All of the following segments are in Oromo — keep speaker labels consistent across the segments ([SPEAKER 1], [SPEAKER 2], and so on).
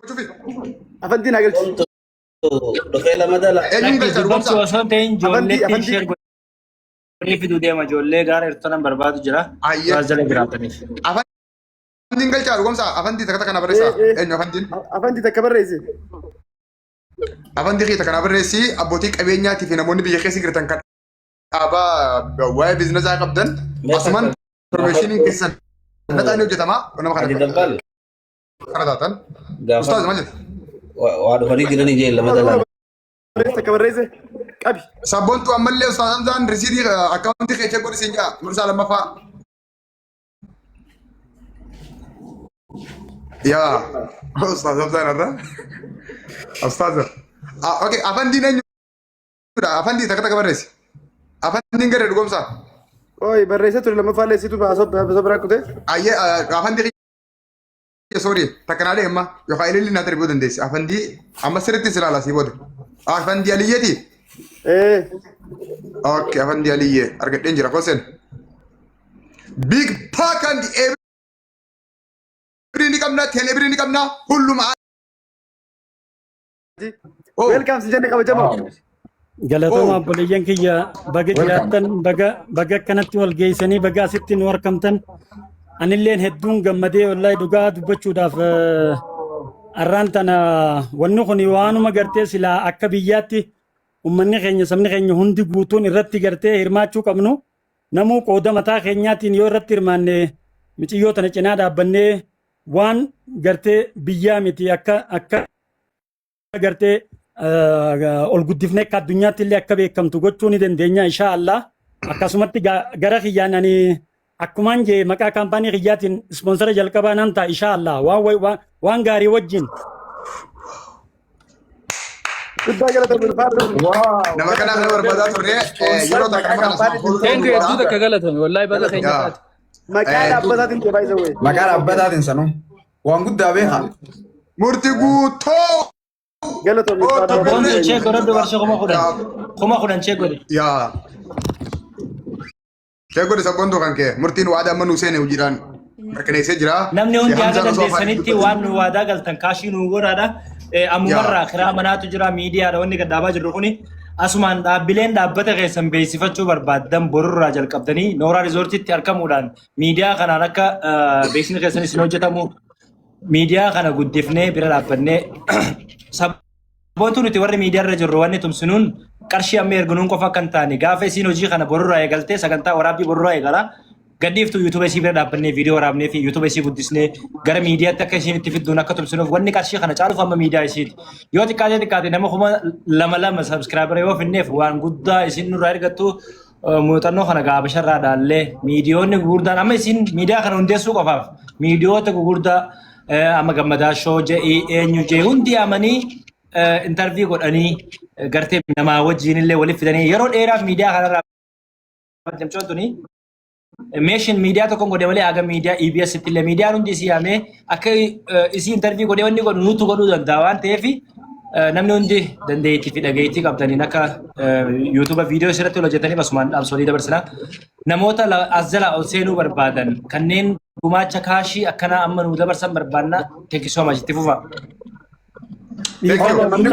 [SPEAKER 1] Gochuufi. Afantii
[SPEAKER 2] naa galchi. Omtu
[SPEAKER 3] dhufee lama dala. Eenyuun Lakki galchaa dubbachuu dhugumsaa?
[SPEAKER 1] osoo hin ta'in Afantii
[SPEAKER 4] ijoolleetti
[SPEAKER 2] afantii.
[SPEAKER 4] ishee godhanii fiduu deema. Ijoollee gaara hirtonan barbaadu jira. Ayyee. Gaara jala jiraataniif.
[SPEAKER 1] Afantiin galchaa dhugumsaa? Afantii takka takka na barreessaa. Ee, ee. Eenyu afantiin? Afantii takka barreessi.
[SPEAKER 2] Afantii
[SPEAKER 1] keessa kana barreessi abbootii qabeenyaatii fi namoonni biyya keessa jirtan kan Dhaabaa waa'ee biiznasaa qabdan asumaan informeeshiniin keessan nataan ni hojjetama nama kana Dabbal
[SPEAKER 3] kana taatan.
[SPEAKER 1] Ustaaz maal jetta? waa dhufanii
[SPEAKER 3] jiranii jee lama dalaan. Barreessa akka
[SPEAKER 2] barreesse qabi. Sabboontu ammallee
[SPEAKER 1] ustaaz Hamzaan risiidii akkaawuntii kee cheekuu dhisin jaa dursaa lammaffaa. Yaa ustaaz Hamzaan irra. Ustaaz. Okey afaan diineenyu jechuudha afandii takka takka barreessi afandiin garee dhugomsaa Oi, barreessa
[SPEAKER 2] ture lammaffaa illee situ baasoo baasoo biraa kutee. ayyee
[SPEAKER 1] afandii kiyya soorii takka naa deemma yookaan ililli naa darbuu dandeessi afandii amma sirriitti si ilaala sii booda afandii aliyyeeti Eh, okay afandii aliyyee argadheen jira kosen big pack and every ni qabna tele ni qabna hulluma Oh. Welcome si jenne
[SPEAKER 2] kabajamoo. Wow. Galatooma Oh.
[SPEAKER 5] obboleeyyan kiyya baga Welcome. jiraattan baga baga akkanatti wal geessanii baga asitti nu argamtan anilleen hedduun gammadee wallahi dhugaa dubbachuudhaaf eh, arraan tana wanni kun waanuma gartee silaa akka biyyaatti ummanni keenya sabni keenya hundi guutuun irratti gartee hirmaachuu qabnu namuu qooda mataa keenyaatiin yoo irratti hirmaanne miciyyoo tana cinaa dhaabbannee waan gartee biyyaa miti akka akka agartee ol guddifne akka addunyaatti illee akka beekamtu gochuu ni dandeenya insha Allah akkasumatti gara kiyyaan ani akkumaan jee maqaa kaampaanii kiyyaatiin ispoonsara jalqabaa nan ta'a insha Allah waan waan gaarii wajjin
[SPEAKER 2] Guddaa galatoomii ulfaadhu. Nama kana
[SPEAKER 1] kan barbaadaa turre yeroo takka nama kana sana fuuldura Thank you
[SPEAKER 4] duuba. hedduu takka galatoomi wallahi baga keenya taate. Maqaa dhaabbataatiin
[SPEAKER 2] jee baay'isa wayii. Maqaa dhaabbataatiin
[SPEAKER 6] sanuu. Waan guddaa beekaa. Murti
[SPEAKER 1] guutuu. Galatoom Oh, Ustaaz
[SPEAKER 2] tokko Abdul. Abboon cheek godhadhu
[SPEAKER 4] barshee kuma kudhan. Kuma kudhan cheek godhe. Yaa.
[SPEAKER 1] Kee godhe sabboontuu kan kee. Murtiin waadaa amma nuu seene hojiidhaan mirkaneessee jira. Namni hundi Kee haga Hamzaan osoo afaan
[SPEAKER 4] dandeessanitti dubbatuu- waan nu waadaa galtan kaashii nu godhaadha. Eh, Ammumarraa kiraa manaatu jira miidiyaadha wanni gad dhaabaa jirru kuni. Asumaan dhaabbileen dhaabbata keessan beeksifachuu barbaaddan borurraa jalqabdanii nooraa riizoortiitti argamuudhaan miidiyaa kanaan akka beeksisni keessan isin hojjetamu miidiyaa kana guddifnee bira dhaabbannee saboontuu nuti warri miidiyaa irra jirru wanni tumsinuun qarshii amma erginuun qofa akka hin taane gaafa isiin hojii kana borurraa eegaltee sagantaa waraabbii borurraa eegala gadhiiftu yuutuuba isii bira dhaabbannee viidiyoo waraabnee fi yuutuuba isii guddisnee gara miidiyaatti akka isiin itti fidduun akka tumsinuuf wanni qarshii kana caaluuf amma miidiyaa isiiti yoo xiqqaatee xiqqaate nama kuma lama lama sabskiraabira yoo finneef waan guddaa isin nurraa ergattu muuxannoo kana gaa Habasharraa dhaallee miidiyoonni gurguddaan amma isin miidiyaa kana hundeessuu qofaaf miidiyoota gurguddaa amma gammadaa shoo je'ii eenyu jee hundi amanii intarvii godhanii gartee namaa wajjiin illee waliif fidanii yeroo dheeraaf miidiyaa kanarraa jamcoon tuni meeshin miidiyaa tokkoon godhe malee haga miidiyaa EBS itti illee miidiyaan hundi isii yaamee akka isii intarvii godhee wanni godhu nutu godhuu danda'a waan ta'eef namni hundi dandeettii fi dhageettii qabdaniin akka yuutuuba viidiyoo isirratti hojjetaniif asumaan dhaamsolii dabarsina. Namoota as jala ol seenuu barbaadan kanneen gumaacha kaashii akkanaa amma nu dabarsan barbaanna teekisoo majitti fufa. Thank you.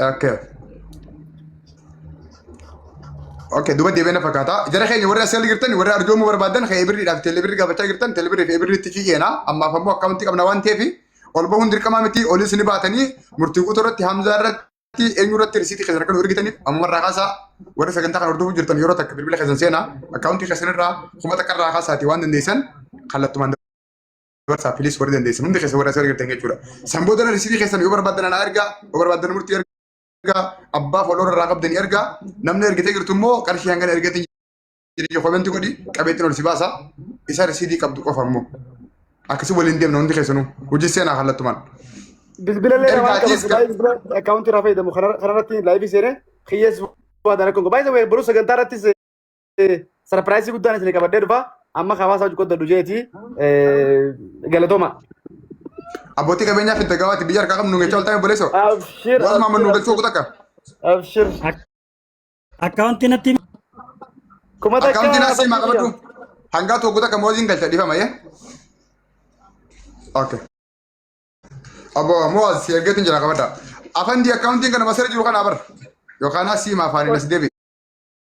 [SPEAKER 1] Okay. Okay, duba deebiin na fakkaata. Jara keenya warri asii jirtan warri arjoomuu barbaadan kan ebirriidhaaf teelebirri gaafachaa jirtan teelebirri fi ebirriitti fi keena. Ammaaf ammoo akkaawuntii qabna waan ta'eef ol bahuun dirqamaa miti olis ni baatanii murtii guutuu irratti hamzaa irratti eenyu irratti risiitii keessan akka nu ergitaniif amma irraa kaasaa warri sagantaa kana hordofuu jirtan yeroo takka bilbila keessan seenaa akkaawuntii keessan irraa kuma takka irraa kaasaati waan dandeessan kallattumaan Barsaa please warri dandeessan hundi keessa warra asii argattan jechuudha. San booda na risiitii keessan yoo barbaadan anaa ergaa yoo barbaadan murtii ergaa abbaa follower irraa qabdan ergaa namni ergitee jirtu immoo qarshii hangana ergatiin jedhee komentii godhi qabeettiin ol si baasa isa risiitii qabdu qofa immoo akkasii waliin deemna hundi keessanuu hojii seenaa kallattumaan. Bilbila
[SPEAKER 2] illee Erga waan ati qabatu iska- baay'ee bilbila akkaawuntii irraa fayyadamu kanarratti laayivii seenee kiyyees waa dalakuun baay'ee boruu sagantaa irrattis sarpiraayisii guddaan isin qabadhee dhufa amma hawaasa hojii qoddadhu jeeti galatooma.
[SPEAKER 1] Abbootii qabeenyaa fi dagawaati biyya harkaa qabnu ngeecha oltaan boleeso. Abshir. Waan maaman
[SPEAKER 2] nu galchuu kutakka.
[SPEAKER 1] Abshir.
[SPEAKER 5] Akkaawuntii natti himi. Kuma
[SPEAKER 2] takka. Akkaawuntiin asii maa qabadhu.
[SPEAKER 1] Hangaa tokko takka mooziin galcha dhifama yee. Okay. Abbo mooz si ergeetiin jira qabadha. Afandii akkaawuntiin kana masara jiru kana bar. Yookaan asii maa afaaniin as deebi.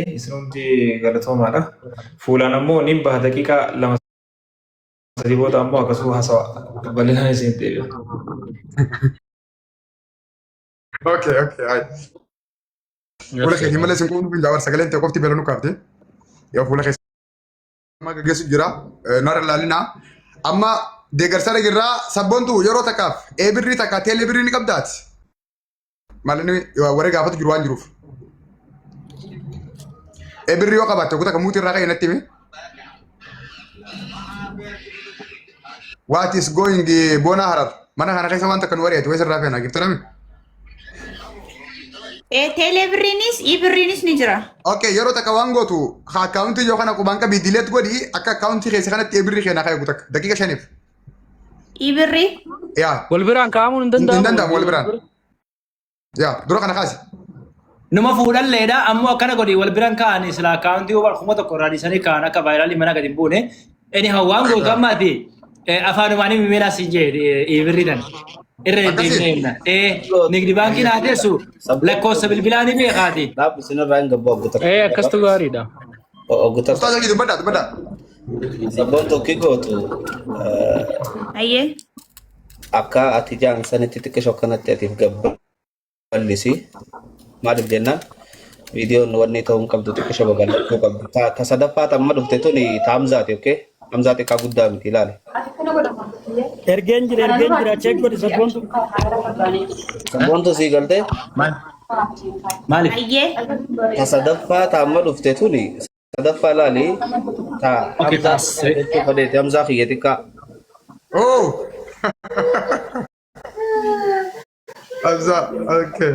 [SPEAKER 7] Isin hundi galatoomaadha. Fuulaan ammoo nin baha daqiiqaa lama sadii booda ammoo akkasuma hasawa bal'inaan isin deebi'a.
[SPEAKER 1] Okay, okay, ayi. Fuula keetiin malee isin quunnuu hin daawwan sagaleen ta'e qofti beelanu kaafte. Yoo fuula keessa amma gaggeessu jira. Naara ilaalinaa. Amma deeggarsa dhagirraa sabboontu yeroo takkaaf ee birrii takka teelee birrii ni qabdaati. malinni warri gaafatu jiru waan jiruuf. E birri yoo qabaatte kutaa kan muutii irraa ka'e natti himi. What is going eh, boona harar? Mana kana keessa wanta kan wari'atu wayisa irraa feena giftirame.
[SPEAKER 8] Ee teelee birriinis ii birriinis ni jira. Okay, yeroo takka waan
[SPEAKER 1] gootu ha akkaawuntii yoo kana qubaan qabii dileet godhi akka akkaawuntii keessa kanatti e birri keenaa ka'e gutakka daqiiqa shaniif. Ii
[SPEAKER 8] birrii. Yaa.
[SPEAKER 1] Wal biraan kaa'amuun hin Hin
[SPEAKER 9] danda'amu. danda'amu wal biraan.
[SPEAKER 1] Yaa. Dura kana kaasi. Numa
[SPEAKER 4] fuudhalleedha ammoo akkana godhi wal biraan kaa'an silaa akkaawuntii waan kuma tokko irraa dhiisanii kaa'an akka vaayiraalii mana gadi hin buune. Inni hawaan gootu amma ati eh, afaanumaan himi meelaa siin jee ii birriidhaan. Irra Akkasii? deddeebinee himna. Ee nigdi baankii naa teessu lakkoofsa bilbilaa ni beekaati. Dhaabbi sinirraa hin gabbaa
[SPEAKER 3] guutaa. Ee akkastu gaariidha.
[SPEAKER 9] Oggu tokko
[SPEAKER 3] Ustaaza kiyya dubbadhaa dubbadhaa.
[SPEAKER 1] sabboon
[SPEAKER 3] tokki gootu
[SPEAKER 8] eh, Ayyee.
[SPEAKER 3] akka ati jaan sanitti xiqqisho kanatti atiif gabba ballisi. Maaliif jennaan viidiyoon wanni ta'uu hin qabdu xiqqisho babal'achuu qabdu. Ta ta sadaffaa tamma dhufte tuni taamzaati okay? Hamzaa xiqqaa guddaa miti ilaali.
[SPEAKER 5] Ergeen jira ergeen jira check godhi sabboontu.
[SPEAKER 3] Sabboontu sii galtee Maal?
[SPEAKER 4] Maaliif? Ayyee.
[SPEAKER 8] ta sadaffaa
[SPEAKER 3] ta amma dhufte tuni sadaffaa ilaali ta Okay, Hamzaa taas. xiqqaa jechuu fedheeti Hamzaa kiyya xiqqaa.
[SPEAKER 1] Oh! Abza, okay.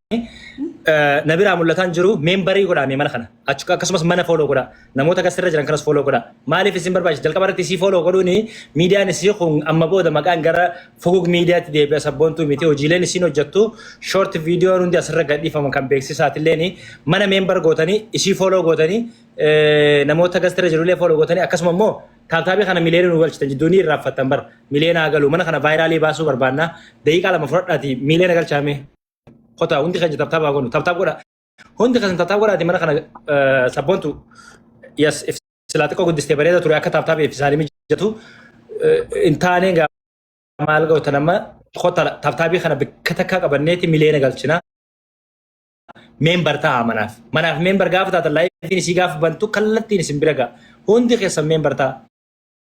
[SPEAKER 4] na biraa mul'ataa hin jiru meembarii godhaa mee mana kana Achu- akkasumas mana fooloo godhaa namoota gasirra jiran kanas fooloo godhaa maaliif isin barbaachisa jalqaba irratti isii fooloo godhuun miidiyaan isii kun amma booda maqaan gara fugug miidiyaatti deebi'a sabboontuu miti hojiileen isiin hojjettu shoort viidiyoon hundi asirra gadhiifaman kan beeksisaatilleen mana meembar gootanii isii fooloo gootanii eh, namoota gasirra jirullee fooloo gootanii akkasuma immoo taataabii kana miliyoona nu galchitan jidduu ni irraanfattan bara miliyoona haa galu mana kana vaayiraalii baasuu barbaanna daqiiqaa lama fudhadhaati miliyoona galchaamee. Kotaa hundi keenya taptaap haa goonu. Taptaap godha. Hundi keessa taptaap godhaati mana kana sabboontu yes silaa xiqqoo guddistee bareeda ture akka taptaap eebbisaanii mijatu hin taaneen gaa maal gootan amma kota taptaabii kana bakka takkaa qabanneeti miliyoona galchina. Meembar ta'a manaaf. Manaaf meembar gaafa taatan laayifiin isii gaafa bantu kallattiin isin bira ga'a. Hundi keessan meembar ta'a.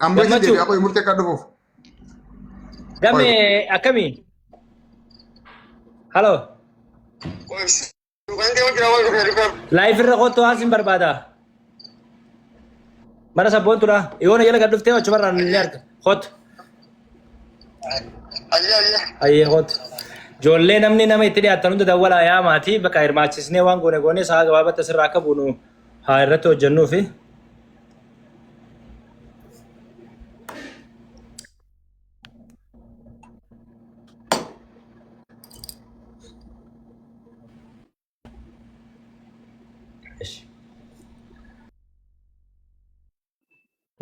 [SPEAKER 1] Amma isin
[SPEAKER 4] Gammachuu. deebi'aa qoyi murtee akka dhufuuf. Gamme akkamii? Haloo. Laayif irra kottu waan sin barbaada. Mana sabboontuudha. Yoona jala gad dhuftee achumarraa ni arga. Kottu. Ayyee kottu. Ijoollee namni nama itti dhiyaatan hunda dawwalaa yaa maatii bakka hirmaachisnee waan goone goone sa'a gabaabatti asirraa akka buunu haa irratti hojjennuu fi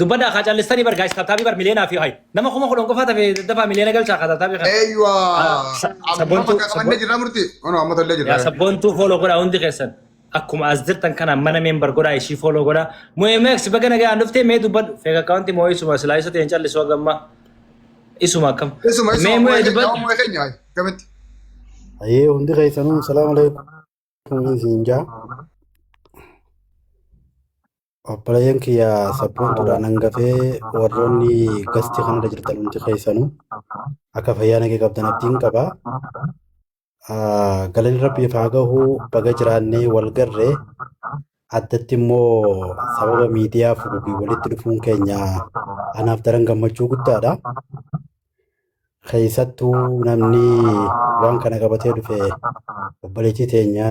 [SPEAKER 4] Dubbadhaa kaa callistanii bar gaayis taataabii bar miliyoonaa fi hayi. Nama kuma kudhan qofaa tafe daddafaa miliyoona galchaa kaa taataabii kana. Eeyyuwa. Ah, sa- Amma
[SPEAKER 1] sabboontuu-
[SPEAKER 4] bakka qabannee jirra
[SPEAKER 1] murti. Ono amma tollee Yaa jirra. sabboontuu fooloo godhaa
[SPEAKER 4] hundi keessan. Akkuma as jirtan kana mana member godhaa ishii follow godhaa. MX baga nagaan dhuftee mee dubbadhu. Fake account moo isuma silaa isa ta'een callisu haga ammaa. Isuma akkam. Isuma isuma Mee mu'ee mu'ee keenya
[SPEAKER 1] dubbadhu. mu'ee
[SPEAKER 4] keenya hayi gamitti.
[SPEAKER 1] Ayee
[SPEAKER 2] hundi keessanuu salaam alaikum isin jaa. Obboleeyyan kiyya sabboontuudha nan gafee warroonni gasti kanarra jirtan hundi keessanuu akka fayyaa nagee qabdan abdiin qaba. Galanni rabbiif haa gahu baga jiraannee wal garre addatti immoo sababa miidiyaa fugugiin walitti dhufuun keenya anaaf daran gammachuu guddaadha. Keessattuu namni waan kana qabatee dhufe obboleettii teenya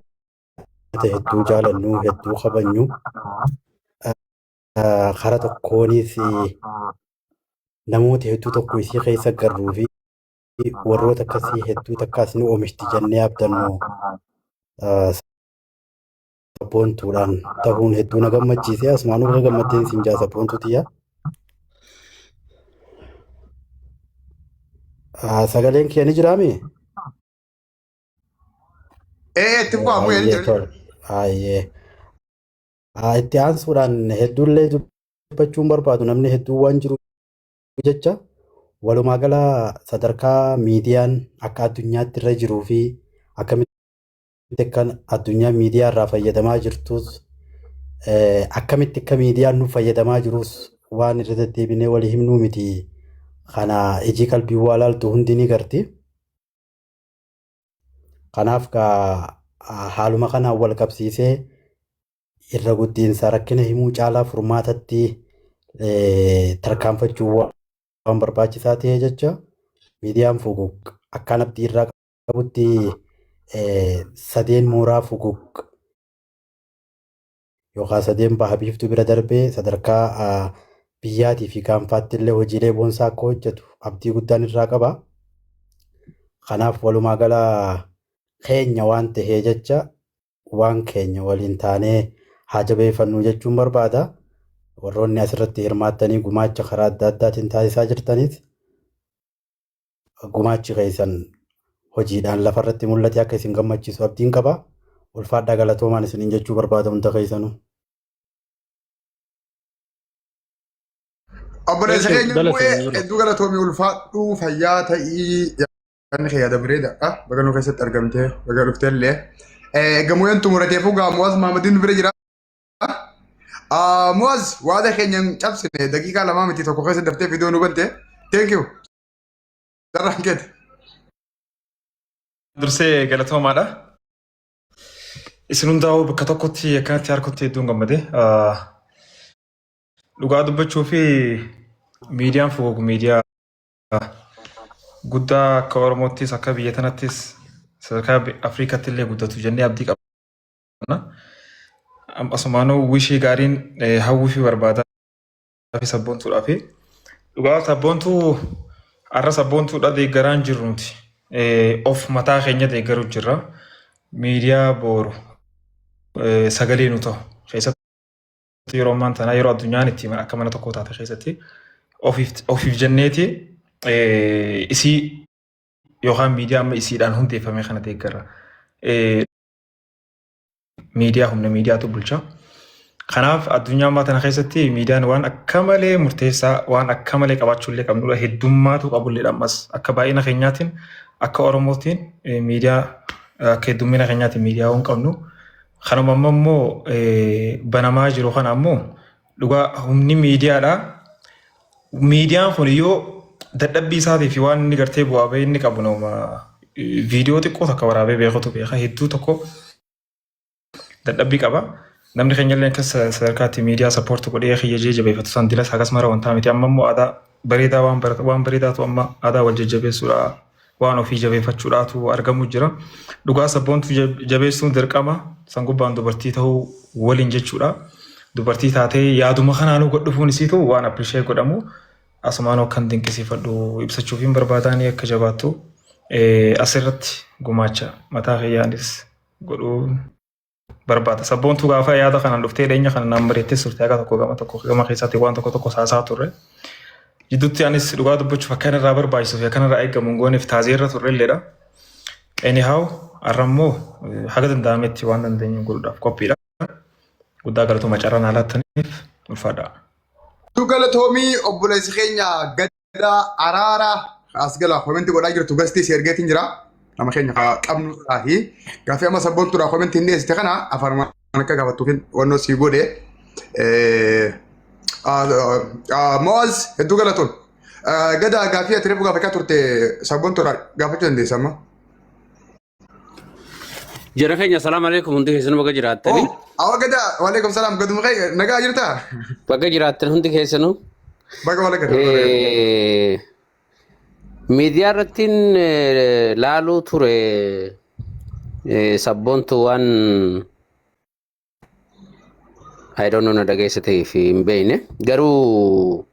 [SPEAKER 2] ummata hedduu jaalannu hedduu kabajnu kara tokkoonis namoota hedduu tokko isii keessa garruu fi warroota akkasii hedduu takkaas ni oomishti jennee abdannu sabboontuudhaan ta'uun hedduu na gammachiise asumaanuu irra gammaddeen siin jaa sabboontuu tiyya. Sagaleen kee ni jiraami?
[SPEAKER 1] Ee itti fufaa bu'ee hin Ayyee jiru. tole. Ayyee.
[SPEAKER 2] Haa itti aansuudhaan hedduullee dubbachuun barbaadu namni hedduun waan jiru jecha walumaa gala sadarkaa miidiyaan akka addunyaatti irra jiruu fi akkamitti akka addunyaa miidiyaa irraa fayyadamaa jirtus eh, akkamitti akka miidiyaan nuuf fayyadamaa jirus waan irra deddeebinee walii himnuu miti. Kana ijii qalbii waa laaltu hundi ni garti. Kanaaf haaluma kanaan wal qabsiisee irra guddiinsa rakkina himuu caalaa furmaatatti
[SPEAKER 10] tarkaanfachuu waan barbaachisaa ta'ee jecha miidiyaan fuguq akkaan abdii irraa qabutti sadeen mooraa fuguq yookaan sadeen baha biiftuu bira darbee sadarkaa biyyaatii fi gaanfaatti illee hojiilee boonsaa akka hojjetu abdii guddaan irraa qaba. Kanaaf walumaa gala keenya waan tahee jecha waan keenya waliin taanee haa jabeeffannuu jechuun barbaada. Warroonni asirratti hirmaattanii gumaacha karaa adda addaatiin taasisaa jirtanis Gumaachi keessan hojiidhaan lafarratti mul'ate akka isin gammachiisu abdiin qaba. Ulfaadhaa galatoomaan isiniin jechuu barbaada hunda keessanuu.
[SPEAKER 1] Obboleessa Thank you. keenya Galatoomi bu'ee bro. hedduu galatoomi ulfaadhu fayyaa ta'ii yaadni kee yaada bareedaadha. Baga nu keessatti argamtee baga dhuftee illee. Gamoyeen xumurateefu gaa Muwaaz Maamadiin nu bira jira. Muwaaz waada keenya hin cabsine daqiiqaa lamaa miti tokko keessa daftee viidiyoo nu bante. Thank you. Carraan keeti.
[SPEAKER 7] Dursee galatoomaadha. Isin hundaa'uu bakka tokkotti akkanatti harkutti hedduun gammade. Dhugaa dubbachuu fi miidiyaan fuguug miidiyaa guddaa akka Oromoottis akka biyya tanattis sadarkaa Afrikaatti illee guddatu jennee abdii qabna. Asumaanuu wishii gaariin hawwii fi barbaada. fi sabboontuudhaa fi dhugaa sabboontuu har'a sabboontuudha deeggaraan jirru nuti of mataa keenya deeggaruu jirra miidiyaa booru sagalee nu ta'u keessatti yeroo ammaan tanaa yeroo addunyaan itti akka mana tokkoo taate keessatti ofiif jenneeti isii yookaan miidiyaa amma isiidhaan hundeeffame kana deeggarra. miidiyaa humna miidiyaatu bulcha. Kanaaf addunyaa ammaa tana keessatti miidiyaan waan akka malee murteessaa waan akka malee qabaachuu illee qabnudha. Heddummaatu qabulleedha ammas akka baay'ina keenyaatiin akka Oromootiin miidiyaa akka heddummina keenyaatiin miidiyaa waan qabnu. Kanuma amma immoo banamaa jiru kana ammoo Dhugaa humni miidiyaadha. Miidiyaan kun yoo dadhabbii isaatii fi waan inni gartee bu'aa bahee inni qabu nama viidiyoo xiqqoo takka waraabee beekutu beeka. Hedduu tokko dadhabbii qaba. Namni keenya illee akka sadarkaatti miidiyaa sappoorti godhee kiyya jee jabeeffatu san dilas akkasumara wantaa miti. Amma immoo aadaa bareedaa waan bareedaatu amma aadaa wal jajjabeessuudha. Waan ofii jabeeffachuudhaatu argamu jira. Dhugaa sabboontu jabeessuun dirqama san gubbaan dubartii ta'uu waliin jechuudha. Dubartii taatee yaaduma kanaanuu gad dhufuun isiitu waan appreciate godhamu asumaanuu akkan dinqisiifadhu ibsachuufiin barbaadaanii akka jabaattu asirratti gumaacha mataa kiyyaanis godhuu. barbaada. Sabboontuu gaafa yaada kanaan dhuftee dhiyeenya kana naan mari'attee turte haga tokko gama tokko gama keessatti waan tokko tokko saasaa turre. Jidduutti anis dhugaa dubbachuuf akka irraa barbaachisuu fi akka irraa eegamu hin gooneef taazee irra turre illeedha. Anyhow har'a immoo haga danda'ametti waan dandeenyu godhuudhaaf qophiidha. Guddaa galatoomaa carraa naa laattaniif ulfaadhaa.
[SPEAKER 1] Galatoomi obboleessi keenya gad Alhamdulillah araara as gala komenti godhaa jirtu gastii si ergeetiin jira. Nama keenya kaa qabnu irraahi. Gaaffii amma sabboontuudhaa komenti hin dhiyeessite kana afaan akka gaafattuufin wannoo sii godhe. Eh, ah, ah, Mo'az hedduu galatoon. Eh, Gada gaaffii ati reefu gaafachaa turte sabboontuudhaa gaafachuu dandeessa amma.
[SPEAKER 9] Jara keenya salaam alaikum hundi keessan baga jiraattanii. Oh, awa gada.
[SPEAKER 1] Waalaikum salam. Gadu mukai. Naga jirta. Baga jiraattan
[SPEAKER 9] hundi keessanuu. Baga wala gada.
[SPEAKER 1] Eh,
[SPEAKER 9] Miidiyaa irrattiin eh, laaluu ture eh, sabboontu waan I don't know na dhageessa ta'ee fi hin beekne garuu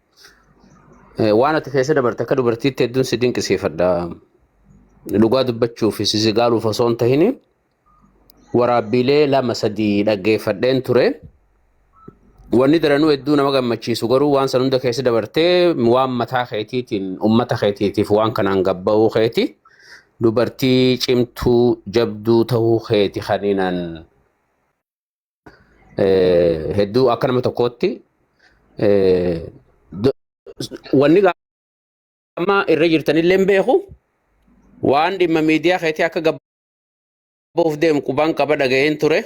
[SPEAKER 9] eh, waan ati keessa dabarte akka dubartiitti hedduun si dinqisiifadha. Dhugaa dubbachuu fi si sigaaluuf osoo hin tahin waraabbiilee lama sadii dhaggeeffadheen ture. Wanni daranuu hedduu nama gammachiisu garuu waan san hunda keessa dabartee waan mataa keetiitiin uummata keetiitiif waan kanaan gabba'uu keeti dubartii cimtuu jabduu ta'uu keeti kaninaan hedduu akka nama tokkootti wanni amma irra jirtanillee hin beeku waan dhimma miidiyaa keetii akka gabbuuf deemu qubaan qaba dhaga'een ture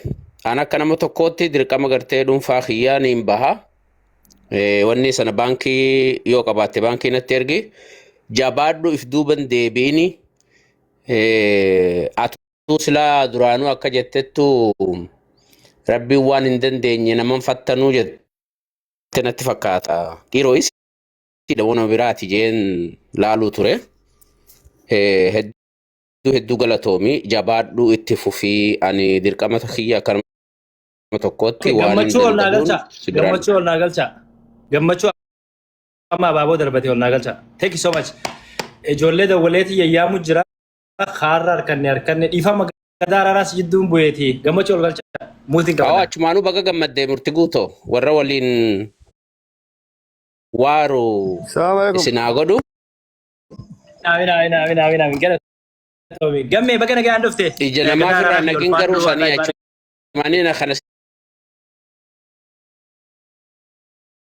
[SPEAKER 9] an akka nama tokkootti dirqama gartee dhuunfaa kiyyaa niin baha wanni sana baankii yoo qabaatte baankii natti ergi jabaadhu if duuban deebiini atu Tuu silaa duraanuu akka jettettu rabbiin waan hin dandeenye naman fattanuu jette natti fakkaata. Dhiiroo isiidha wana biraati jeen laaluu ture. Eh, Hedduu hedduu galatoomi jabaadhuu itti fufii ani dirqama kiyya akka nama tokkootti Okay, waan hin gammachuu ol naa danda'uun galchaa. si biraan. Gammachuu
[SPEAKER 4] ol naa galchaa. Gammachuu amma abaaboo darbatee ol naa galchaa. Thank you so much. Ijoollee dawwaleetii yayyaamu jira. kaarra harkanne harkanne dhiifama gadaa araaraas jidduun bu'eeti gammachuu ol galcha multi Awwa gabadaa. achumaanuu baga gammaddee
[SPEAKER 9] murti guutoo warra waliin waaru Salaamu alaikum. isin haa godhu. Amiin amiin amiin amiin
[SPEAKER 4] amiin gara toomi gammee baga nagaan dhufte Ija gadaa namaa firraa araaraas
[SPEAKER 9] ol nagin garuu faaduu sanii wallahi baaduu. achumaanii na kana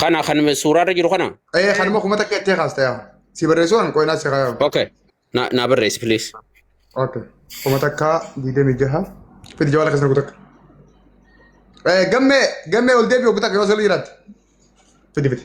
[SPEAKER 1] Kana
[SPEAKER 9] kan suuraa irra jiru kana. Ee kanuma kuma takka itti
[SPEAKER 1] kaasta yaa. Si barreessuu kan qo'inaa si kaa'u. Okay. Na na
[SPEAKER 9] barreessi please. Okay.
[SPEAKER 1] Kuma takka digdamii jaha. Fidi jawala kasna kutak. Eh gamme gamme ol debi kutak yo sali rat. Fidi fidi.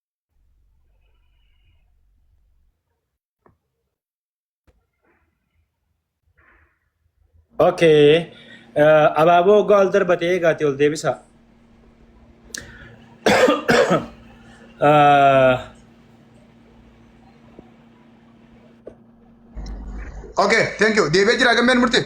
[SPEAKER 4] Okay. Uh, abaaboo waggaa ol darbate eegaati ol deebisa. Uh,
[SPEAKER 1] Okay, thank you. Deebi'ee jira gammeen murtee.